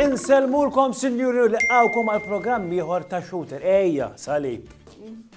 Insellmulkom sinjuri u liqgħukom għal programm ieħor ta' shooter. Ejja, salib.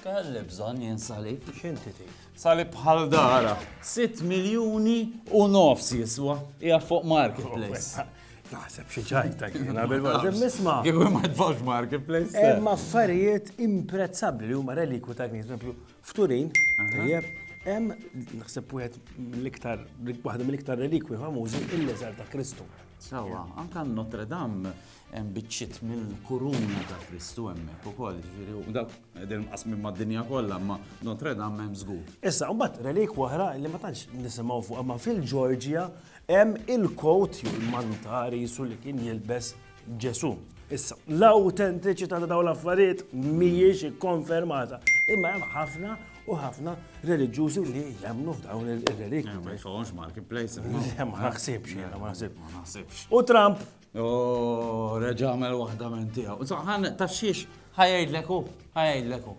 Kelli bżonn jien salib. X'inti tgħid? Salib bħal dara. 6 miljuni u nofs jiswa. Hija fuq marketplace. Naħseb xi ċajta jiena bil-barġem nisma'. Kif ma tfawx marketplace. Hemm affarijiet imprezzabbli li huma relikwu ta' knisja, esempio, f'Turin, tajjeb, hemm naħseb wieħed mill-iktar waħda mill-iktar relikwi famużi il-leżar ta' Kristu. Sawa, anka Notre Dame hemm biċċiet mill-kuruna ta' Kristu hemmhekk ukoll, ġifieri u dak qegħdin qasmin mad-dinja kollha, ma Notre Dame hemm żgur. Issa, mbagħad relik oħra li ma tantx nisimgħu fuq, ma fil-Ġorġja Hemm il-kowt jew il-manta risu li kien jilbes Ġesù. Issa, l-awtentiċità ta' dawn l-affarijiet mhijiex ikkonfermata, imma hemm ħafna u ħafna reliġjużi li jemmnu f'dawn ir-relikti. Ma jfawhomx marketplace. Ma naħsibx, ma naħsibx. U Trump? Oh, reġa' għamel waħda minn tiegħu. Saħan ta' xiex ħajajdlek hu, ħajajdlek hu.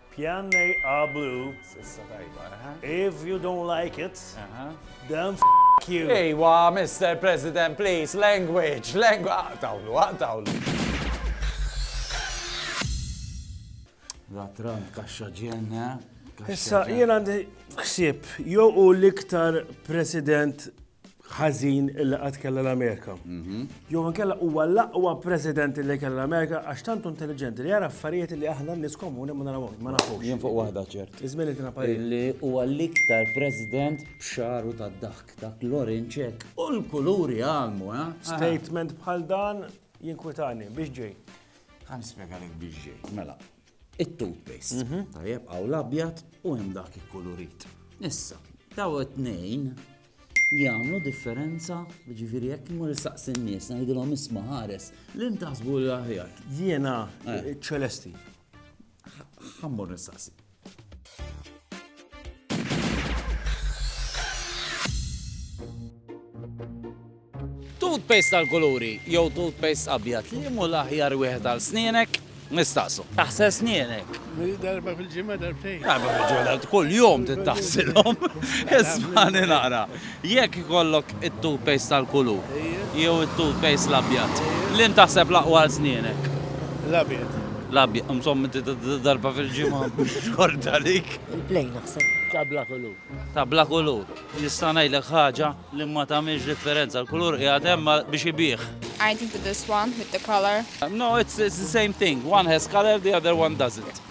Pjan A blu. Sissa tajba, eh? If you don't like it, then f you. Ejwa, Mr. President, please, language, language. Aqtawlu, ah, aqtawlu. Ah, La Trump kaxxa ġenna. Issa, jien għandi ħsieb, jew u l-iktar president ħażin illi qatt kellha l-Amerika. Mhm. Jew inkella huwa l-aqwa president li kellha l-Amerika għax tantu intelligenti li jara affarijiet li aħna nies komuni ma narawhom, ma nafux. Jien fuq waħda ċert. Iżmin li parir. Li huwa l-iktar president b'xaru tad-daħk dak l-orinċek u l-kuluri għalmu, eh? Statement bħal dan jinkwitani biex ġej. Għan spiega li biex ġej. Mela, it-toothpaste. Mhm. Tajjeb, għaw l-abjad u hemm dak ikkulurit. Issa, daw it-tnejn jagħmlu differenza, ġifieri jekk imur saqsin nies ngħidilhom isma' ħares li ntaħsbu l aħjar. Jiena eh. ċelesti. Ħammur nistaqsi. Toothpaste għal kuluri jew toothpaste abjad, liemu l-aħjar wieħed għal snienek? Nistaqsu. Taħsel snienek? Darba fil-ġimgħa darbtejn. Darba fil-ġimgħa kull jum tittaħsilhom. Ismani naqra. Jekk ikollok it-toothpaste tal-kulu jew it-toothpaste l-abjad, li ntaħseb l-aqwa għal snienek? L-abjad. L-abjad, insomma darba fil-ġimgħa xorta dik. Il-plejn naħseb. Tabla kulur. Tabla kulur. Nista' ngħidlek ħaġa li ma tagħmilx differenza, l-kulur qiegħed hemm biex ibigħ. I think that this one with the color. No, it's it's the same thing. One has color, the other one doesn't.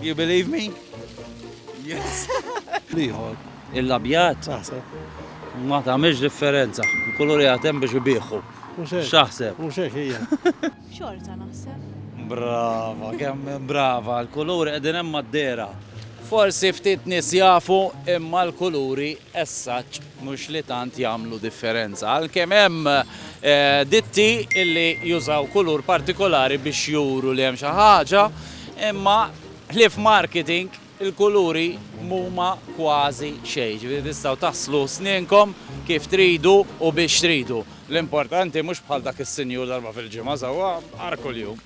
You believe me? Yes. Liħor. Il-labjat? Taħseb. Ma tagħmilx differenza. Il-kulur jagħtem biex ibiħu. X'aħseb? Mhux hekk hija. Xorta naħseb. Brava, kemm brava, l-kuluri qegħdin hemm mad-dehra. Forsi ftit nies jafu imma l-kuluri as such mhux li tant jagħmlu differenza. Għalkemm hemm ditti illi jużaw kulur partikolari biex juru li hemm xi ħaġa, imma ħlief marketing Il-kuluri mhuma kważi xejn, jiġifieri tistgħu taħslu snenkom kif tridu u biex tridu. L-importanti mhux bħal dak is-sinjur darba fil-ġimgħa sewwa nhar kuljum.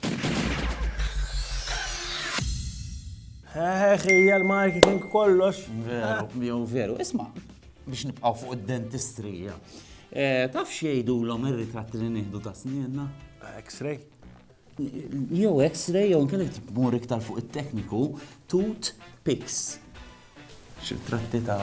Heħ, hija l-marketing kollox. Veru, jew veru. Isma', biex nibqgħu fuq id-dentistrija. Taf x'jgħidulhom ir-ritratti li nieħdu ta' snienna? X-ray. jew X-ray jew inkella tmur iktar fuq it-tekniku tut pics. Xi tratti ta'